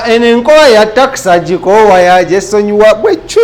eno enkola ya takisa gikoowa yagyesonyiwa bweki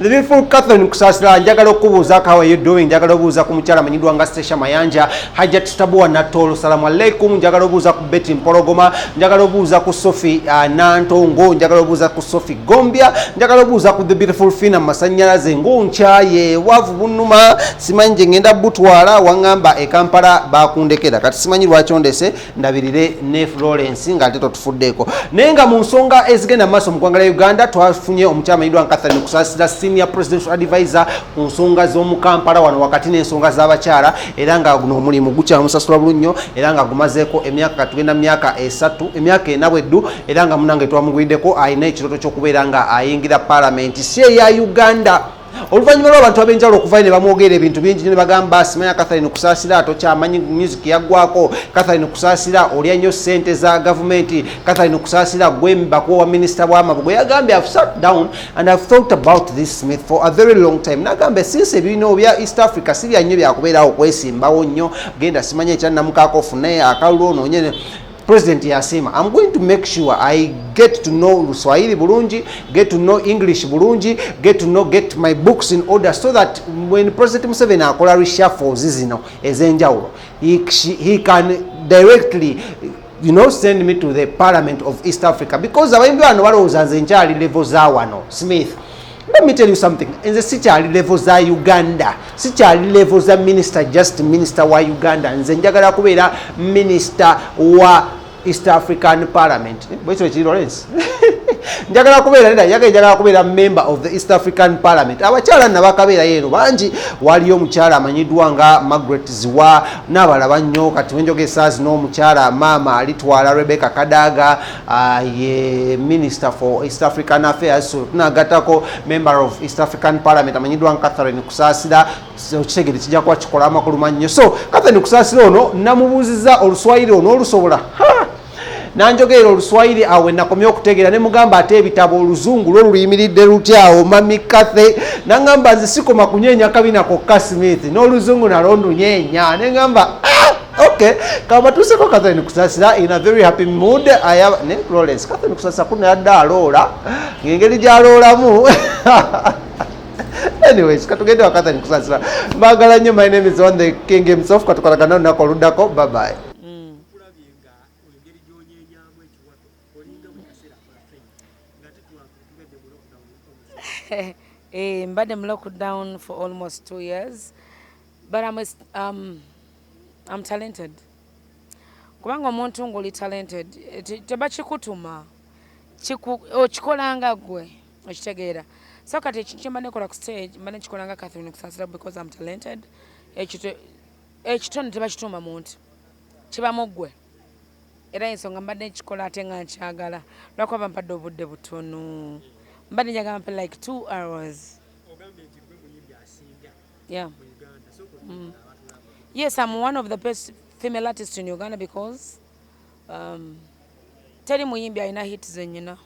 the beautiful catherine kusasira njagala okubuuza how are you doing njagala obuuza ku mukyala amanyiddwa nga sesha mayanja hajat stabua natolo salamu aleikum njagala obuuza ku beti mpologoma njagala obuuza ku sofi uh, nantongo njagala obuuza ku sofi gombya njagala obuuza ku the beautiful fina masanyalaze ngonkyaye wavu bunuma simanyi gye ngenda butwala wangamba ekampala bakundekera kati simanyi lwaki ondese ndabirire ne florence nga ate totufuddeeko naye nga mu nsonga ezigenda mu maaso mu ggwanga lya uganda twafunye omukyama yidwa nkatharin okusaasira senior presidential advisor ku nsonga z'omu kampala wano wakati n'ensonga z'abakyala era nga guno omulimu gukyamusasula bulu nnyo era nga gumazeeko emyaka katugenda mu myaka esatu emyaka ena bweddu era nga munange twamuguliddeko alina ekirooto ky'okubeera nga ayingira palamenti si eya uganda oluvannyuma lw'abantu ab'enjawulo okuvayo ne bamwogerera ebintu bingi nyo ne bagamba simanya catherine kusaasira tokyamanyi music yaggwako catherine kusaasira olya nnyo ssente za gavumenti catherine kusaasira gwembakuwa wa minisita bwamabu gwe yagambye have sat down and have thought about this smith for a very long time nagambye sinsi ebirino bya east africa si bya nnyo byakubeerawo okwesimbawo nnyo genda simanya ekyannamukaako ofune akalulu onoonye president yasiima am going to make sure i get to know luswahili bulungi get to know english bulungi get to know get my books in order so that when president museveni akola reshuffles zino ezenjawulo he, he can directly you know send me to the parliament of east africa because abayimbi bano balowooza nze nkyali level za wano smith Let me tell you something. In the city ali level za Uganda. City ali level za minister just minister wa Uganda. Nze njagala kubeera minister wa East African Parliament. Eh, Bwecho ekiri Lawrence. njagala kubeera neda yaga njagala kubeera member of the East African Parliament. Abakyala nabakabeera yeero bangi waliyo omukyala amanyiddwa nga Margaret Ziwa n'abalaba nnyo kati wenjogesa zino omukyala maama alitwala Rebecca Kadaga uh, ye minister for east african affairs so tunagatako member of east african parliament amanyiddwa catherine kusasira okitegere kijja kuba kikola amakulu mannyo so catherine kusasira ono namubuuziza oluswayiri ono olusobola nanjogerera oluswayiri awe nakomye okutegeera ne mugamba ate ebitabo oluzungu lwo luyimiridde lutyawo mami cathe nangamba nze sikoma kunyeenya kabina kokka smith n'oluzungu nalondunyeenya nengamba ah! Okay, kama tuseko Catherine Kusasira in a very happy mood. I have ne Florence Catherine Kusasira kuna yadda aloola ngengeri gyaloolamu anyways katugende wa Catherine Kusasira mbagala nnyo my name is on the king himself katukolagana olunaku oluddako bye bye. Eh, mbadde mu lockdown for almost two years but I'm a, um, I'm talented kubanga omuntu ngoli talented tebakikutuma okikolanga gwe okitegeera so kati ekintu kyemba nekola ku stage mba nekikolanga catherine kusansira because am talented ekitone tebakituuma muntu kibamu gwe era ensonga mbadde nkikola ate nga nkyagala lwakuba bampadde obudde butono mbadde njagala mpe like two hours yeah. mm. yes I'm one of the best female artists in Uganda because um, teri muyimbi alina hit zenyina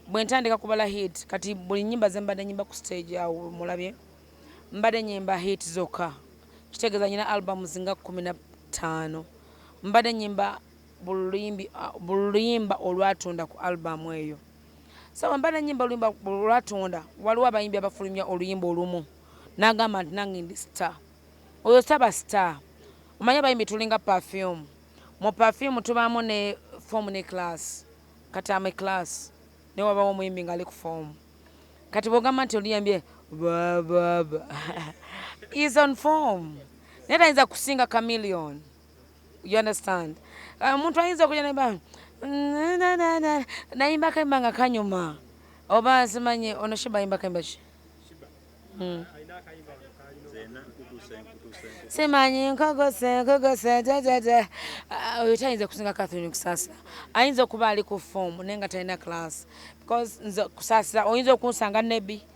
bwe ntandika kubala hit kati buli nyimba ze mbadde nyimba ku stage awo mulabye mbadde nyimba hit zokka kitegeeza nyina albumu zinga kumi na ttaano mbadde nyimba buluyimba olwatunda ku albumu eyo Sawa mbana nyimba oluyimba lwatonda waliwo abayimbi abafulumya oluyimba olumu nagamba nti nange ndi star oyo saba star omanya abayimbi tulinga perfume mu perfume tubaamu ne fomu ne class kati ame class ne wabawo omuyimbi nga ali ku fomu kati bwogamba nti oluyambye is on form naye tayinza kusinga chameleon you understand ah, omuntu ayinza okuja neba nayimba kayimba nga kanyuma oba simanye ono shiba ayimba kayimba ki hmm. simanyi nkogose nkogose jajaja ah, oyo tayinza kusinga catherine kusasira ayinza okuba ali ku fomu naye nga talina class because nze kusasira oyinza okunsanga nebi mm.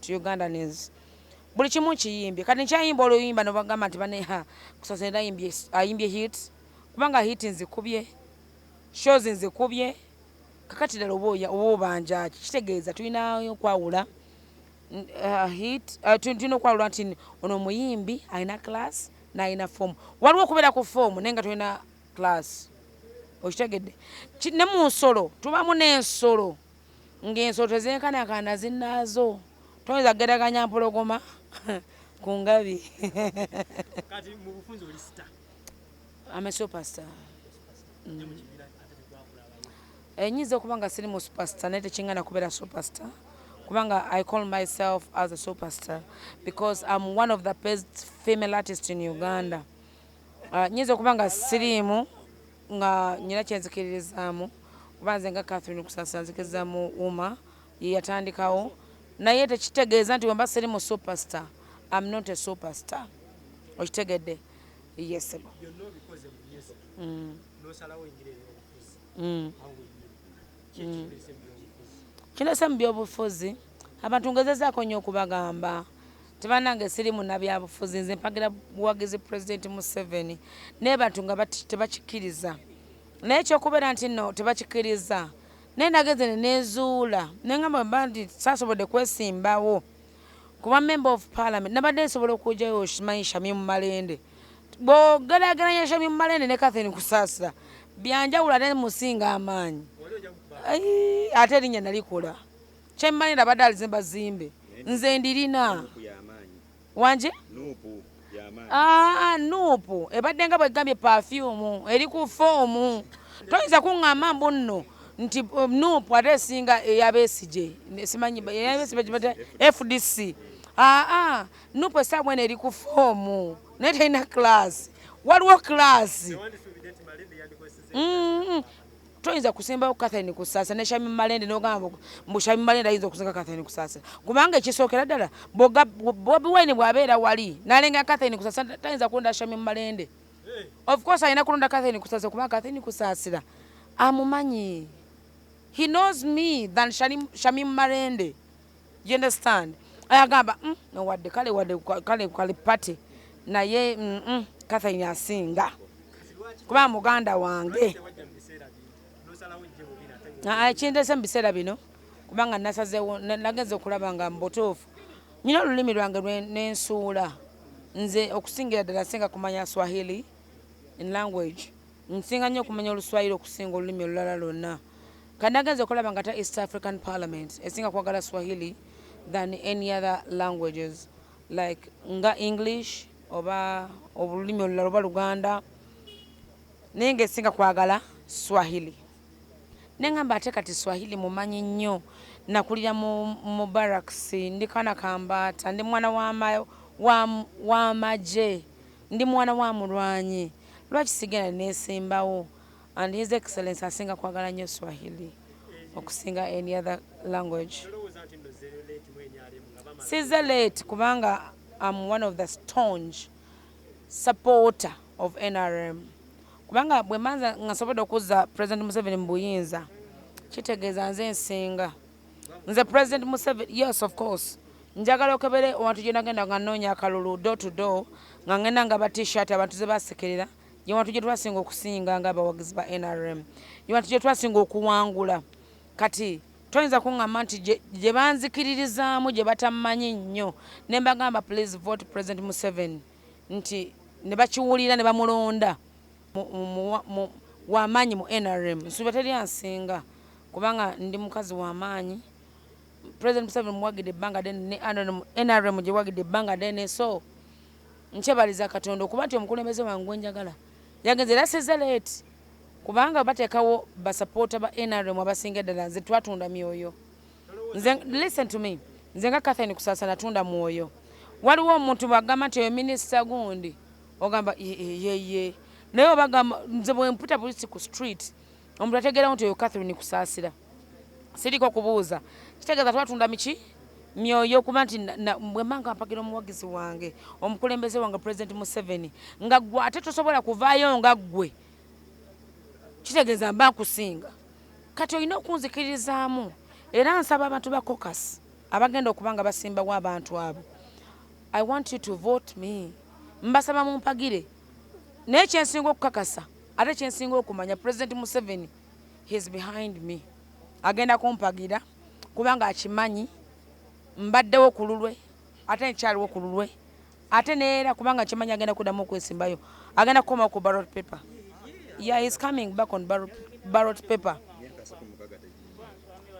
to Ugandans buli kimu kiyimbye kati nkyayimba oluyimba nobagamba nti bane ha kusasira ayimbye ayimbye hit kubanga hit nzikubye shows nzikubye kakati dala oboya obanja kitegeeza tulina okwawula uh, hit uh, tulina okwawula nti ono omuyimbi alina class nalina form waliwo okubeera ku form naye nga tulina class okitegedde ne mu nsolo tubamu n'ensolo Ng'ensolo tezenkanankana zinnaazo, toyinza kugeraganya mpologoma ku ngabi. Kati mu bufunze oli sita? I'm a superstar. Mm. Enyinza eh, okuba nga siri mu superstar naye tekingana kubeera superstar kubanga I call myself as a superstar because I'm one of the best female artists in Uganda. Ah, nyinza okuba nga siriimu nga nyina kyenzikiririzaamu kuba nze nga Catherine Kusasa nzikiriza mu uma yeyatandikawo naye tekitegeeza nti wemba siri mu superstar am not a superstar okitegedde yesebo mm. mm. mm. kirese mu byobufuzi abantu ngezezaako nyo okubagamba Nti banange siri munabyabufuzi nze mpagira buwagizi president Museveni naye bantu nga tebakikiriza naye ekyokubeera nti no tebakikiriza naye nagenze nenezuula nengamba bandi sasobodde kwesimbawo kuba member of parliament nabadde nsobola okujayo shimanyi shamim malende bwogerageranya shamim malende ne kathin kusaasira byanjawulo ate musinga amaanyi ate erinya nalikola Kyemmanyi nabadde alizimba zimbe nze ndirina wangi nuupu ah, ebadde nga bwegambye pafyumu eri ku foomu toyinza kuŋŋamba mbu nno nti um, nuupu ate esinga eyabesigye simanyi fdc aa ah, nuupu esaawa eno eri ku foomu naye terina class waliwo class toyinza kusimbawo Catherine Kusasira ne Shamim Malende n'ogamba mbu Shamim Malende ayinza okusinga Catherine Kusasira kubanga ekisookera ddala Bobi Wine bw'abeera wali n'alenga Catherine Kusasira tayinza kulonda Shamim Malende eh. of course alina kulonda Catherine Kusasira kubanga Catherine Kusasira amumanyi he knows me than Shamim Malende Do you understand? Ayagamba mm, no wadde kale wadde kale kale party naye mm, mm, Catherine asinga kuba muganda wange kindese mu biseera bino kubanga nasazewo nagenza okulaba nga mubutuufu nyina olulimi lwange nensuula nze okusingira ddala singa kumanya swahili in language nsinga nnyo okumanya oluswahili okusinga olulimi olulala lwonna Kati nagenze okulaba nga ta East African Parliament esinga kwagala Swahili than any other languages like nga English oba obululimi olulala oba Luganda naye nga esinga kwagala Swahili nengamba ate kati Swahili mumanyi nnyo nakulira mu barracks ndi kana kambaata ndi mwana w'amagye ndi mwana wa mulwanyi lwaki sigenda nesimbawo And his excellence asinga kwagala nyo Swahili okusinga any other language. Size late kubanga I'm one of the staunch supporter of NRM. Kubanga bwe manza ngasobodde okuzza President Museveni mu buyinza kitegeeza nze nsinga nze President Museveni yes of course njagala okebere owantu gyenagenda nga noonya akalulu door to door nga ngenda nga ba t-shirt abantu zebasekerera gye wantu gye twasinga okusinga ng'abawagizi ba nrm gye wantu gye twasinga okuwangula kati toyinza kuŋŋamba nti gye banzikiririzaamu gye batamanyi nnyo ne mbagamba please vote president museveni nti ne bakiwulira ne bamulonda wamaanyi mu nrm nsuuba teri ansinga kubanga ndi mukazi wamaanyi president museveni muwagidde ebbanga dene ne nrm gyewagidde ebbanga dene so Nkyebaliza Katonda okuba nti omukulembeze wange gwe njagala yagenze era sizze leeti kubanga bateekawo basapoota ba nrm abasinga eddala nze twatunda myoyo nze listen to me nze nga Catherine Kusaasa natunda mwoyo waliwo omuntu bwagamba nti oyo minisita gundi ogamba yeye naye obagamba nze bwemputa buli ku street Omuntu ategeerawo nti oyo Catherine Kusaasira. Siriiko kubuuza. Kitegeeza twatunda miki? myoyo okuba nti bwe mba nga mpagira omuwagizi wange omukulembeze wange pulezidenti museveni nga gwe ate tosobola kuvaayo nga ggwe kitegeeza mba nkusinga kati olina okunzikiririzaamu era nsaba abantu ba cocas abagenda okuba nga basimbawo abantu abo i want you to vote me mbasaba mumpagire naye kyensinga okukakasa ate kyensinga okumanya president museveni his behind me agenda kumpagira kubanga akimanyi mbaddewo ku lulwe ate nkyaliwo ku lulwe ate neera kubanga kimanyi agenda kuddamu okwesimbayo agenda kukomawo ku barot paper yeah, he's coming back on barot, barot paper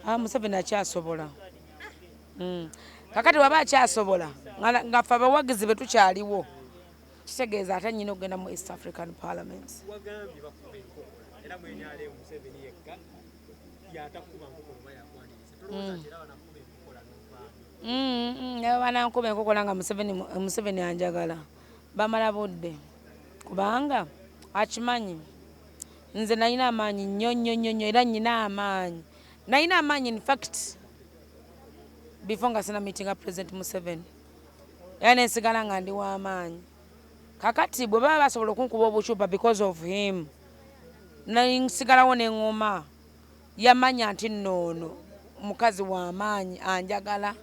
ah, museveni akyasobola mm. kakati waba akyasobola nga fe abawagizi be tukyaliwo kitegeeza ate nyina okugenda mu east african parliament mm. mm, mm, naba banankuba enkokola nga museveni anjagala bamala budde kubanga akimanyi nze nalina amaanyi nnyo nnyo nnyo nnyo era nyina amaanyi nalina amaanyi infact before nga sina meetinga president museveni era nensigala nga ndi wamaanyi kakati bwe baba basobola okunkuba obucupa because of him nsigalawo neŋoma yamanya nti noono mukazi wamaanyi anjagala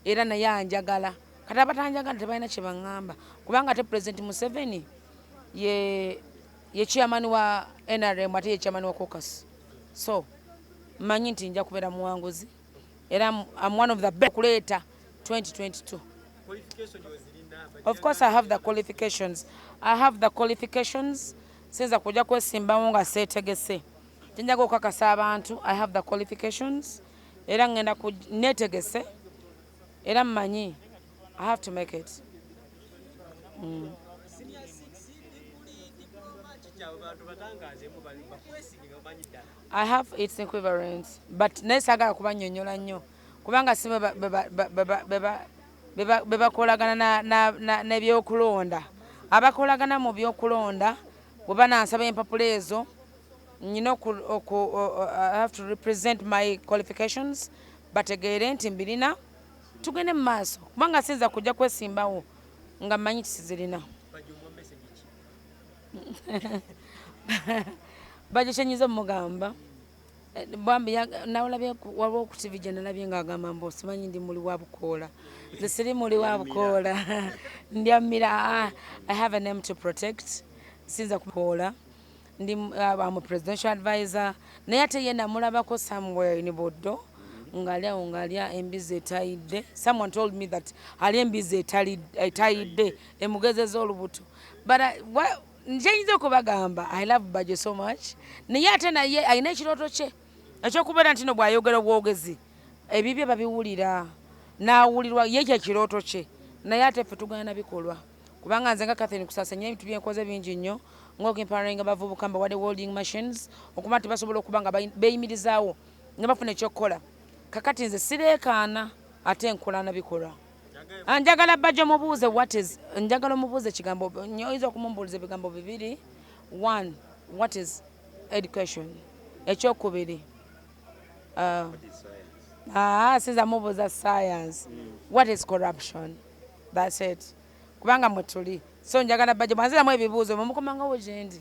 era naye anjagala kati abatanjagala tebalina kyebaŋamba kubanga ate president museveni ye ye chairman wa nrm ate ye chairman wa cocus so manyi nti nja kubeera muwanguzi era am one of the best kuleeta 2022 of course i have the qualifications i have the qualifications sinza kuja kwesimbawo nga setegese kyenjaga okukakasa abantu i have the qualifications era ngenda netegese era mmanyi i have to make it mm. I have its equivalent but naye sagala kubanyonyola nnyo kubanga si bebakolagana nebyokulonda abakolagana mu byokulonda bweba nansaba empapula ezo nyina have to represent my qualifications bategeere nti mbirina tugende mu maaso kubanga siyinza kujja kwesimbawo nga manyi kisizirina bagikyenyiza omugamba eh, bambi nawulabye waliwo ku tivi gye nalabye nga agamba mbu osimanyi ndi muli wa bukoola nze siri muli wa bukoola ndyammira ah, i have a name to protect sinza kukoola ndi ah, am presidential advisor naye ate ye namulabako somewhere in buddo ngali awo ngalya embizi etayidde someone told me that ali embizi etayidde emugezeza olubuto but I, what, njenyinza okubagamba i love bajo so much naye ate naye alina ekirooto kye ekyokubeera nti no bwayogera obwogezi ebibye babiwulira nawulirwa ye kyekirooto kye naye ate ffe tugana nabikolwa kubanga nze nga kathin kusasa nyina ebintu byenkoze bingi nnyo ngaokimparainga abavubuka mbawade welding machines okuba nti basobola okuba nga beyimirizaawo nga bafuna ekyokukola kakati nze sireekaana ate nkola nabikolwa Ah, njagala bajja mubuuze what is njagala omubuuze ekigambo oyinza okumumbuuliza ebigambo bibiri one what is education ekyokubiri ah, ah, sinza mubuuza science what is corruption thats it kubanga mwetuli so njagala bajja mwanziramu ebibuuzo mumukomangawo gyendi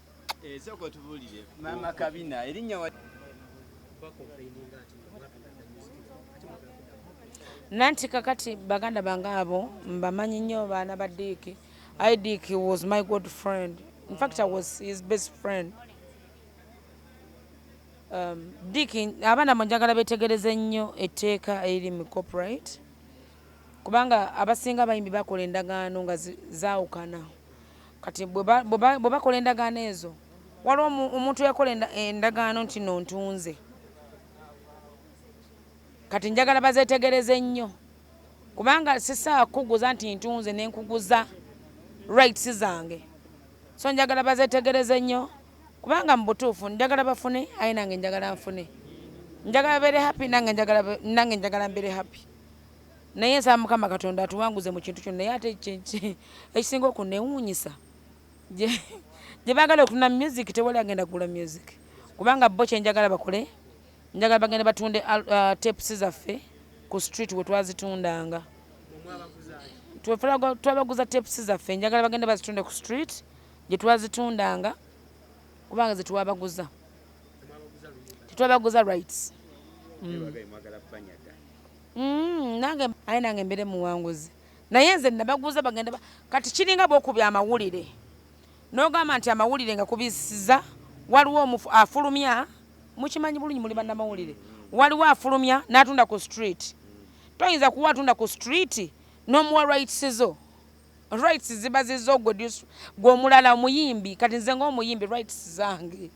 Esoko eh, tubulire mama kabina erinya wa nanti kakati baganda bange abo mbamanyi nnyo baana ba diiki i dick was my good friend in fact i was his best friend um, dick abaana bo njagala betegereze nnyo etteeka eriri mu copyright kubanga abasinga abayimbi bakola endagaano nga zaawukana Kati bwe bakola endagaano ezo, waliwo omuntu eyakola endagaano nti no ntunze, kati njagala bazetegereze nnyo kubanga sisaa kukuguza nti ntunze ne nkuguza rights zange so njagala bazetegereze nnyo kubanga mu butuufu njagala bafune aye nange njagala nfune njagala bere happy nange njagala bere happy. naye nsaba mukama katonda atuwanguze mu kintu kino naye ate ekisinga okunewuunyisa gye baagala okutuna music tewali agenda kugula music kubanga bo kye njagala bakole njagala bagenda batunde uh, tapes zaffe ku street we twazitundanga twabaguza tapes zaffe njagala bagenda bazitunde ku street gye twazitundanga kubanga ze twabaguza tetwabaguza rights mm. Mm, nange aye nange mbere muwanguzi naye nze nabaguza bagenda ba... kati kiringa bwokubya amawulire nogamba nti amawulire nga kubisiza waliwo omufu afulumya mukimanyi bulungi muli banamawulire waliwo afulumya natunda ku street toyinza kuwa atunda ku street nomuwa rights zo rights ziba zizo gwe omulala omuyimbi kati nze ngaomuyimbi rights zange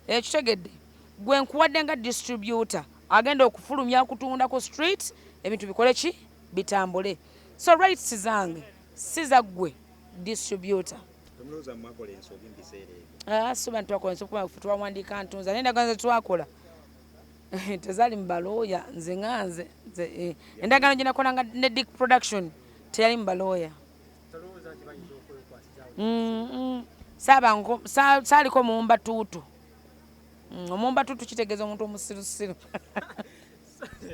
Okitegedde? Gwe nkuwadde nga distributor agenda okufulumya okutunda ku street ebintu bikole ki bitambule. So rights zange si za gwe distributor. Temulowooza mwakola ensobi mu biseera ebyo. Ah, si bantu bakola ensobi kuba twawandiika ntunza naye endagaano ze twakola tezali mubalooya nze nga nze eh, endagaano gyenakola nga ne dick production teyali mubalooya saaliko muwumba tuutu mm, omuwumba tuutu kitegeeza omuntu omusirusiru